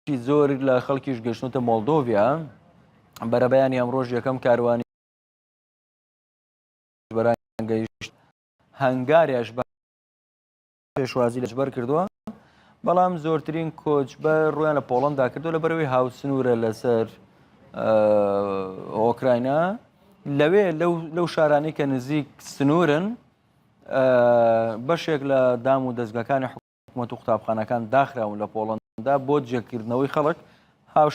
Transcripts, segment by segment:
بەشێکی زۆر لە خەڵکیش گەشتنتە مۆلدۆڤیا بەرەبەیانی ئەمڕۆژ یەکەم کاروانی گەیشت هەنگاریش بە پێشوازی لەجبەر کردووە بەڵام زۆرترین کۆچ بە ڕویان لە پۆڵندا کردو لە بەرەوەی هاوسنورە لەسەر ئۆکراینا لەوێ لەو شارانی کە نزیک سنورن بەشێک لە دام و دەستگەکانی حکومەت و قوتابخانەکان داخراون لە پۆڵەندا بۆ جێکردنەوەی خەڵک هاوش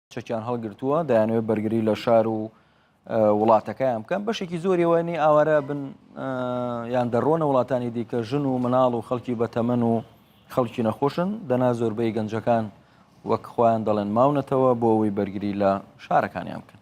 چەکیان هەڵگرتووە دەیانەوێت بەرگری لە شار و وڵاتەکەیان بکەن بەشێکی زۆری وانی ئاوارە بن یان دەڕۆنە وڵاتانی دیکە ژن و مناڵ و خەڵکی بەتەمەن و خەڵکی نەخۆشن دەنا زۆربەی گەنجەکان وەک خۆیان دەڵێن ماونەتەوە بۆ ئەوەی بەرگری لە شارەکانیان بکەن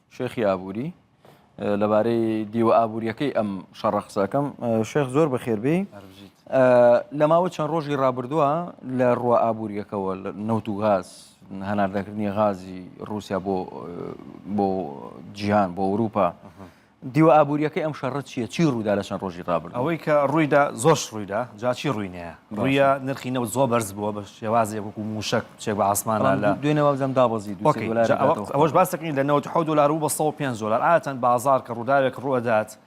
شێخی ئابووری لەبارەی دیوە ئابوووریەکەی ئەم شەڕە قسەکەم شێخ زۆر بەخێربێ لە ماوە چەند ڕۆژی ڕابردووە لە ڕوە ئابوووریەکەەوە نەوت و غاز هەناردەکردنی غازی رووسیا بۆ بۆ جیهان بۆ ئەوروپا دیوە ئابوووریەکەی ئەم شەڕە چیە چی ڕوودا لە چەند ڕۆژی ڕابرد ئەوەی کە ڕوویدا زۆش ڕوویدا جاچی ڕووینەیە ڕوویە نرخینەوە زۆ بەرز بووە بە شێوازێک وەکو موشک چێک بە عاسمان لا لا دوێنێ وابزانم دابەزی دوو سێ دۆلار دەکاتەوە. ئەوەش باس دەکەین لە 97 دۆلار بوو بە 105 دۆلار عادەتەن بازار کە ڕووداوێک ڕوو دەدات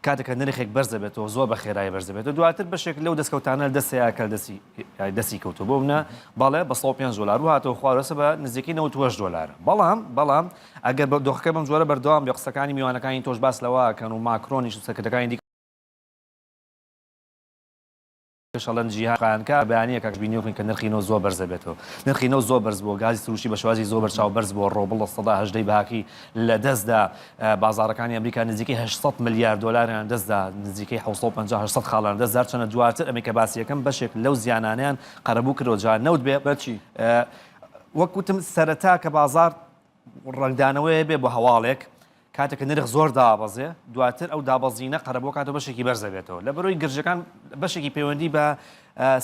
کاتێک کە نرخێک بەرز دەبێتەوە زۆر بە خێرایی بەرز دەبێتەوە دواتر بەشێک لەو دەستکەوتانە دەست هەیە کە دەستی یای دەستی کەوتووە بۆ منە بەڵێ بە 105 دۆلار و هاتەوە خوارەوەسە بە نزیکەی 98 دۆلار بەڵام بەڵام ئەگەر بە دۆخەکە بەم جۆرە بەردەوام بێ قسەکانی میوانەکانی تۆش باس لەوە کەن و ماکرۆنیش و سەرکردەکانی دیکە کشەڵەن جیهان خانکار بەیانیە کاک ژبی نوێخوین کە نرخی نەوت زۆر بەرز دەبێتەوە نرخی نەوت زۆر بەرز بووە گازی سروشی بە شێوازی زۆر بەرچاو بەرز بووە ڕۆبڵ لە سەدا هەژدەی بەهاکەی لە دەستدا بازاڕەکانی ئەمریکا نزیکەی هەشت سەد ملیار دۆلاریان دەستدا نزیکەی حەوت سەد و پەنجا هەشت سەد خاڵیان دەست جار چەنە دواتر ئەمەی کە باسی یەکەم بەشێک لەو زیانانەیان قەرەبوو کردەوە جا نەوت بێ بەچی وەک وتم سەرەتا کە بازاڕ ڕەنگدانەوەیە بێ بۆ هەواڵێک کاتێک کە نرخ زۆر دابەزێ دواتر ئەو دابەزینە قەرەبوو کاتۆ بەشێکی بەرز دەبێتەوە لە بەرۆی گرژەکان بەشێکی پەیوەندی بە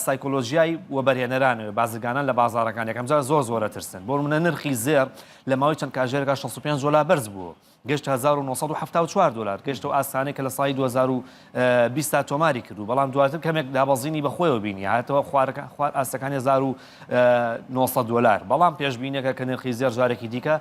سایکۆلۆژیای و بەرهێنەرانەوە بازرگانان لە بازارەکان یەکەم جار زۆر زۆرە ترسن بۆ منە نرخی زێر لە ماوەی چەند کاژێرەکە 65 دلار بەرز بوو گەشت 1970 دلار گەشت و ئاسانەی کە لە سای 2020 تا تۆماری کردو بەڵام دواتر کەمێک دابەزینی بەخۆیەوە بینی هاتەوە خوارەکە خوار ئاستەکانی 1970 دلار بەڵام پێشبینەکە کە نرخی زێر جارێکی دیکە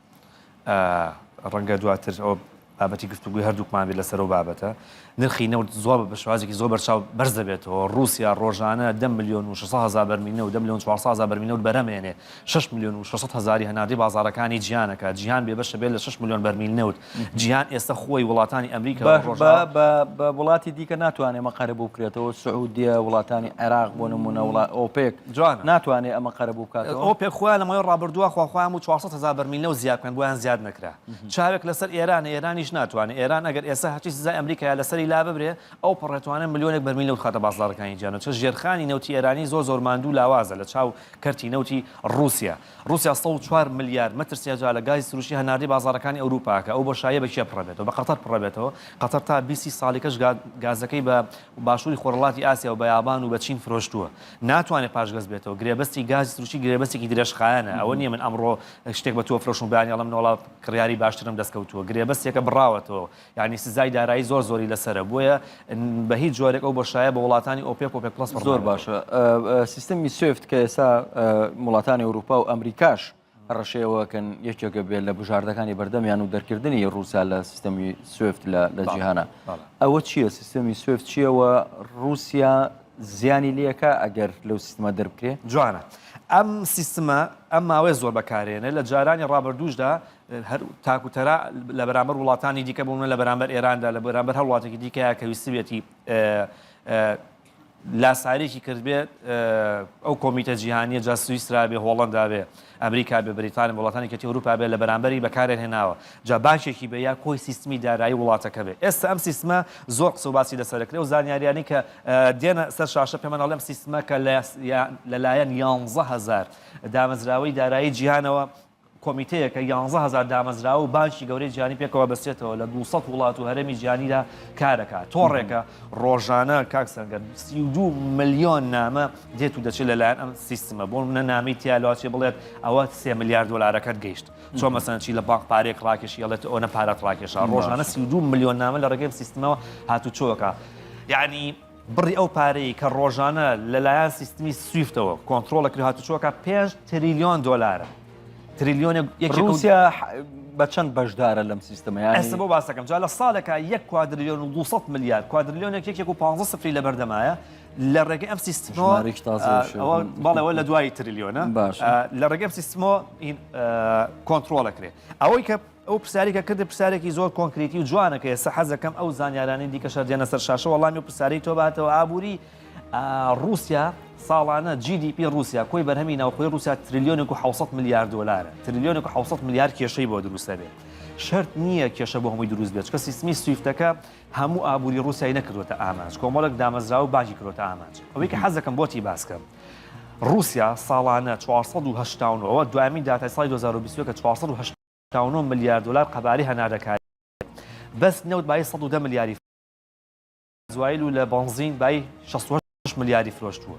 ڕەنگە دواتر ئەوە بابەتی گفتوگوی هەردووکمان بێت لەسەر و بابەتە نرخی نەوت زۆر بە شوازێکی زۆر بەرچاو بەرز دەبێتەوە رووسیا ڕۆژانە دە میلیۆن و 600 هزار بەرمینە و دە میلیۆن 400 هزار بەرمینە و بەرەمێنێ 6 میلیۆن و 600 هزاری هەناردەی بازارەکانی جیانەکە جیهان بێ بەشە بێت لە 6 میلیۆن بەرمیل نەوت جیهان ئێستا خۆی وڵاتانی ئەمریکا بە ڕۆژە بە وڵاتی دیکە ناتوانێت مەقەرە بکرێتەوە سعودیە وڵاتانی عێراق بۆ نمونە وڵات ئۆپێک جوانە ناتوانێ ئەمە قەرەبوو بکاتەوە. ئەوە پێخوا لەمەوەی ڕابردووە خواخوایان بوو چوار سەد هەزار بەرمیل نەوت زیا بکەن بۆیان زیاد نەکرا چاوێک لەسەر ئێرانە ئێرانیش ناتوانێ ئێران ئەگەر ئێستا هەرچی سزای ئەمریکایە لەسەری لاببرێ ئەو پەڕێ توانێ ملیۆنێک بەرمیل نەوت بخاتە بازاڕەکانی جیهان چ ژێرخانی نەوتی ئێرانی زۆر زۆر ماندوو لاوازە لە چاو کەرتی نەوتی ڕووسیا. ڕوسیا سەد و چوار ملیار مەتر سێجا لە گازی سروشتی هەناردەی بازاڕەکانی ئەوروپاکە، ئەو بۆشاییە بە کێ پڕەبێتەوە؟ بە قەتەر پڕەبێتەوە، قەتەر تا بیست سی ساڵی کەش گازەکەی بە باشوری خۆرهەڵاتی ئاسیا و بە یابان و بە چین فرۆشتووە، ناتوانێت پاشگەز بێتەوە، گرێبەستی گازی سروشتی گرێبەستێکی درێژخایەنە، ئەوە نیە من ئەمڕۆ شتێک بە تۆ بفرۆشم و بەیانی ئەڵێم نۆڵا کڕیاری باشترم دەستکەوتووە، گرێبەستێکە بڕاوەتەوە، یانی سزای دارایی زۆر زۆری لەسەرە بۆیە بە هیچ جۆرێک ئەو بەشایە بە وڵاتانی ئۆپێک و پێک پلس زۆر باشە سیستمی سوفت کە ئێسا وڵاتانی ئەوروپا و ئەمریکاش ڕەشەیەوەکەن یەکێکە بێت لە بژاردەکانی بەردەمیان و دەرکردنی رووسیا لە سیستەمی سوفت لە جیهانە ئەوە چییە سیستەمی سوفت چیەوە رووسیا زیانی لەکە ئەگەر لەو سیستمە دەربکرێ جوانە ئەم سیستمە ئەم ماوەی زۆر بەکارێنە لە جارانی ڕابردووشدا هەر تاک و تەرا لە بەرامبەر وڵاتانی دیکە بوون لە بەرامبەر ئێراندا لە بەرامبەر هەر وڵاتێکی دیکەیە کە ویستبێتی لاساریکی کردبێت ئەو کۆمیتە جیهانیە جا سویسرا بێ هۆڵندا بێ ئەمریکا بە بریتانی وڵاتانی کەتی ئەوروپا بێت لە بەرامبەری بەکارێن هێناوە جا باشێکی بە یا کۆی سیستمی دارایی وڵاتەکە بێت ئێستا ئەم سیستمە زۆر قسە باسی لەسەرکرێ و زانیاریانی کە دێنە سەر شاشە پێمان ئەڵێم سیستمەکە لەلایەن یانزە هزار دامەزراوەی دارایی جیهانەوە کۆمیتەیەک کە یانزە هەزار دامەزراوە و بانکی گەورەی جیهانی پێکەوە بەستێتەوە لە دوو سەد وڵات و هەرێمی جیهانیدا کارەکا تۆڕێکە ڕۆژانە کاک سەنگەر سی و دوو ملیۆن نامە دێت و دەچێت لەلایەن ئەم سیستمە بۆ منە نامی تیالاچێ بڵێت ئەوە سێ ملیار دۆلارەکەت گەیشت چۆن مەسەن چی لە بانک پارێک ڕاکێشی هەڵێت ئەوە پارەت ڕاکێشا ڕۆژانە سی و دوو ملیۆن نامە لە ڕێگەی سیستمەوە هاتوچۆکە یعنی بڕی ئەو پارەی کە ڕۆژانە لەلایەن سیستمی سویفتەوە کۆنترۆڵ دەکرێت هاتوچۆکە پێنج تریلیۆن دۆلارە تریلیۆنێک یەکی رووس. رووسیا بە چەند بەشدارە لەم سیستەمە یانی ئەسە بۆ باسەکەم جا لە ساڵێکە یەک کوادریلیۆن و 200 ملیار کوادریلیۆنێک یەکێک و 15 سفری لە بەردەمایە لە ڕێگەی ئەم سیستمەوە ژمارەیەکی تازەیش ئەوە هەیە. بەڵێەوە لە دوای تریلیۆنە باشە. لە ڕێگەم سیستمەوە ئین، ئە، کۆنترۆڵەکرێ ئەوەی کە ئەو پرسیارەی کە کردت پرسیارێکی زۆر کۆنکریتی و جوانە کە ئێستا حەز دەکەم ئەو زانیارانەی دیکەش هەر دێنە سەر شاشە وەڵامی ئەو پرسیارەی تۆ باتەوە ئابووری ڕووسیا ساڵانە جی دی پی ڕووسیا کۆی بەرهەمی ناوخۆی ڕووسیا تریلیۆنێک و حەوت سەد ملیار دۆلارە تریلیۆنێک و حەوت سەد ملیار کێشەی بۆ دروست دەبێت شەرت نییە کێشە بۆ هەمووی دروست بێت چونکە سیستمی سویفتەکە هەموو ئابووری ڕووسیای نەکردوتە ئامانج کۆمەڵێک دامەزراوە و بانکی کردوتە ئامانج ئەوەی کە حەز دەکەم بۆتی باس کەم ڕووسیا ساڵانە چوار سەد و هەشتا و نۆ دوایین داتای ساڵی دوو هەزار و بیست و یەک کە چوار سەد و هەشتا هەشتا و نۆ ملیار دۆلار قەبارەی هەناردەکاری بەس نەوت بایی سەد و دە ملیاری فرۆشتووە، گازوایل و لە بەنزین بایی شەست و هەشت ملیاری فرۆشتووە،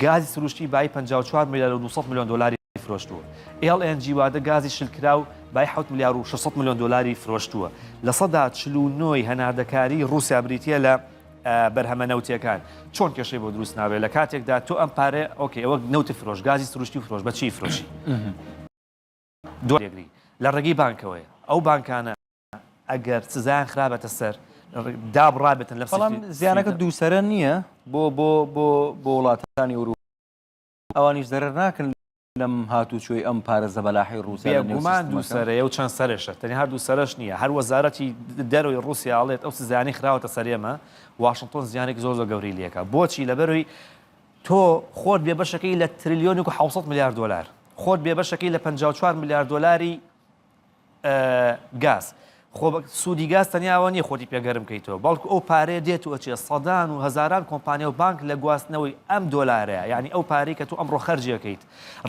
گازی سروشتی بایی پەنجا و چوار ملیار و دوو سەد ملیۆن دۆلاری فرۆشتووە، ئێڵ ئێن جی واتە گازی شلکراو بایی حەوت ملیار و شەش سەد ملیۆن دۆلاری فرۆشتووە، لە سەدا چل و نۆ ی هەناردەکاری ڕووسیا بریتییە لە بەرهەمە نەوتییەکان، چۆن کێشەی بۆ دروست نابێت لە کاتێکدا تۆ ئەم پارەیە ئۆکەی ئەوە نەوتت فرۆشت، گازی سروشتی فرۆشت، بە چیی فرۆشی؟ دوای جێگری لە ڕێگەی بانکەوەیە ئەو بانکانە ئەگەر سزایان خرابێتە سەر دابڕابێتن لە بەڵام زیانەکە دووسرە نییە بۆ بۆ بۆ بۆ وڵاتانی ئەوروپا ئەوانیش زەرەر ناکەن لەم هاتوچۆی ئەم پارێزە بەلاحی رووسیا گومان دوو سەرەیە و چەند سەرێشە تەنی هەردوو سەرش نییە هەر وەزارەتی دەروی رووسیاڵێت ئەو سزیانی خراوەتە سەرێمە واشنگتۆن زیانێک زۆر زۆر گەوری لەکە بۆچی لەبەروی تۆ خۆت بێ بەشەکەی لە ترلیۆنێک و حەوسەد ملیار دۆلار، خۆت بێ بەشەکەی لە پەنجا و چوار ملیار دۆلاری گاز، خۆ سوودی گاز تەنیا ئەوە نییە خۆتی پێ گەرم بکەیتەوە، بەڵکو ئەو پارەیە دێت و ئەچێت، سەدان و هەزاران کۆمپانیا و بانک لە گواستنەوەی ئەم دۆلارەیە، یانی ئەو پارەی کە تۆ ئەمڕۆ خەرجی ئەکەیت،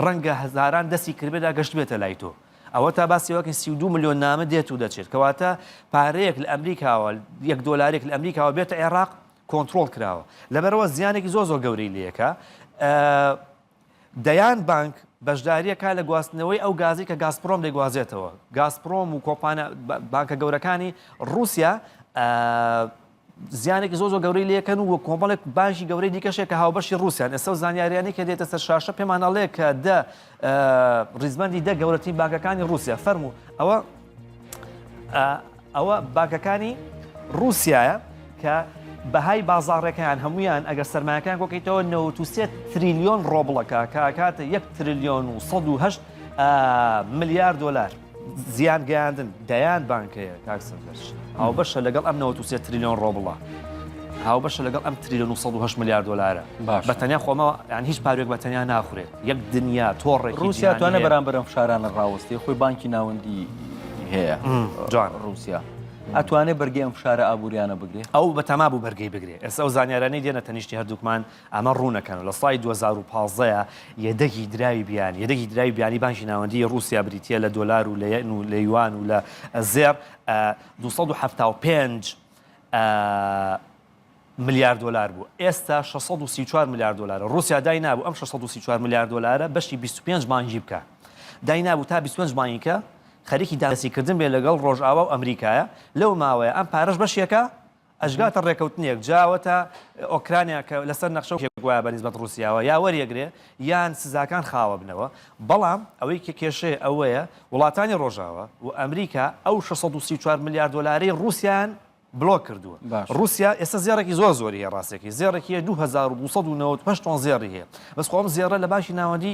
ڕەنگە هەزاران دەستی کردبێدا گەشتبێتە لای تۆ. ئەوەتا باسی ئەوە ئەکەین سی و دوو ملیۆن نامە دێت و دەچێت، کەواتە پارەیەک لە ئەمریکاوە، یەک دۆلارێک لە ئەمریکاوە بێتە عێراق، کۆنتڕۆڵ کراوە لەبەرەوە زیانێکی زۆر زۆر گەورەی لەکە دەیان بانک بەشداریە کا لە گواستنەوەی ئەو گازی کە گازپرۆم دەگوازێتەوە گازپرۆم و کۆپانە بانکە گەورەکانی رووسیا زیانێکی زۆ زۆ گەورەی لەکەن و کۆمەڵێک باشی گەورەی دیکەشێک کە هاوبەشی رووسیان ئێستا زانیاریانی کە دێتە سەر شاشە پێمانناڵەیە کە دە ڕیزبەندی دە گەورەترین بانکەکانی ڕووسیا فەرموو ئەوە ئەوە بانکەکانی ڕووسایە کە بەهای بازاڕێکیان هەمویان ئەگەر سەرمایەکان کۆکەیتەوە 93 تریلیۆن ڕۆبڵەکە کاکاتە 1 تریلیۆن و 1970 ملیار دلار. زیان گەیاندن دەیان بانکەیە کاک سەردەش هاوبەشە لەگەڵ ئەم 93 تریلیۆن ڕۆبڵە هاوبەشە لەگەڵ ئەم تریلیۆن 1970 میلیارد دلارە بە تەنیا خۆمەوە یان هیچ پارێک بە تەنیا ناخورێت یەک دنیا تۆڕێک رووسیا توانە بەرامبەرم فشارانە ڕاوەستی خۆی بانکی ناوەندی هەیە جوان رووسیا. ئەتوانێت بەرگی ئەم فشارە ئابوووریانە بگرێت ئەو بە تەما بوو بەرگی بگرێت ئێستا ئەو زانیارانەی دێنە تەنیشتی هەردووکمان ئەمە ڕوونە کەن و لە ساڵی دوو هەزار و پازدە ە یەدەگی دراوی بیانی، یەدەگی دراوی بیانی بانکی ناوەندیی ڕووسیا بریتییە لە دۆلار و لە یەن و لە یوان و لە زێڕ، ە دوو سەد و حەفتا و پێنج ملیار دۆلار بوو، ئێستا شەش سەد و سی و چوار ملیار دۆلارە. ڕووسیا دای نابوو ئەم شەش سەد و سی و چوار ملیار دۆلارە بەشی بیست و پێنج بانکی بکا. دای نابوو تا بیست و پێنج بانیکە خەریکی دانپێدانەسیکردن بێ لەگەڵ ڕۆژاوا و ئەمریکایە، لەو ماوەیە ئەم پارەش بەشێکە ئەشگاتە ڕێکەوتنێک جا ئەوەتا ئۆکرانیا کە لەسەر نەخشە و گوایە بەنیسبەت ڕووسیاوە یا وەریەگرێ یان سزاکان خاوەبنەوە، بەڵام ئەوەی کە کێشەیە ئەوەیە وڵاتانی ڕۆژاوا و ئەمریکا ئەو شەش سەد و سی و چوار ملیار دۆلارەی ڕووسیایان بلۆک کردووە. ڕووسیا ئێستا زێڕێکی زۆر زۆری هەیە ڕاستەکەی زێڕێکی هەیە دوو هەزار و دوو سەد و نەوەد و هەشت تۆن زێڕی هەیە بەس خۆ ئەم زێڕە لە بانکی ناوەندی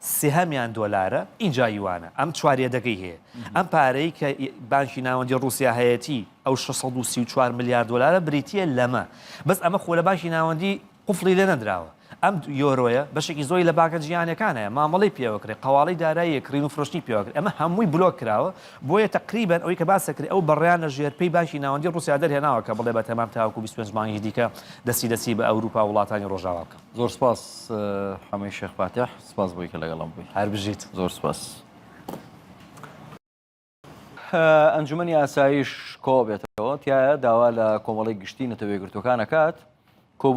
سهمیان دۆلارە ئینجا یوانە ئەم چواریەدەگەی هەیە ئەم پارەی کە بانکی ناوەندی ڕوسیا هەیەتی ئەو شەش سەد و سی و چوار ملیار دۆلارە بریتیە لەمە بەس ئەمە خۆ لە بانکی ناوەندی قفڵی لێ نەدراوە ئەم یۆرۆیە بەشێکی زۆری لە بانکە جیهانیەکان هەیە مامەڵەی پێوەکرێ قەواڵی داراییە کڕین و فرۆشتنی پێوەکرێ ئەمە هەمووی بلۆک کراوە بۆیە تەقریبەن ئەوەی کە باس دەکرێ ئەو بەڕیان لە ژێر پێی بانکی ناوەندی ڕوسیا دەرهێناوە کە بڵێ بە تەمام تاوەکو بیست و پێنج مانگی دیکە دەستی دەستی بە ئەوروپا وڵاتانی ڕۆژاوا بکە. زۆر سپاس حەمەی شێخ فاتیح سپاس بۆی کە لەگەڵم بووی هەر بژیت زۆر سپاس ئەنجومنی ئاسایش کۆ بێتەوە تایە داوا لە کۆمەڵی گشتی نەتەوە یەکگرتوەکان ئەکات کۆبوون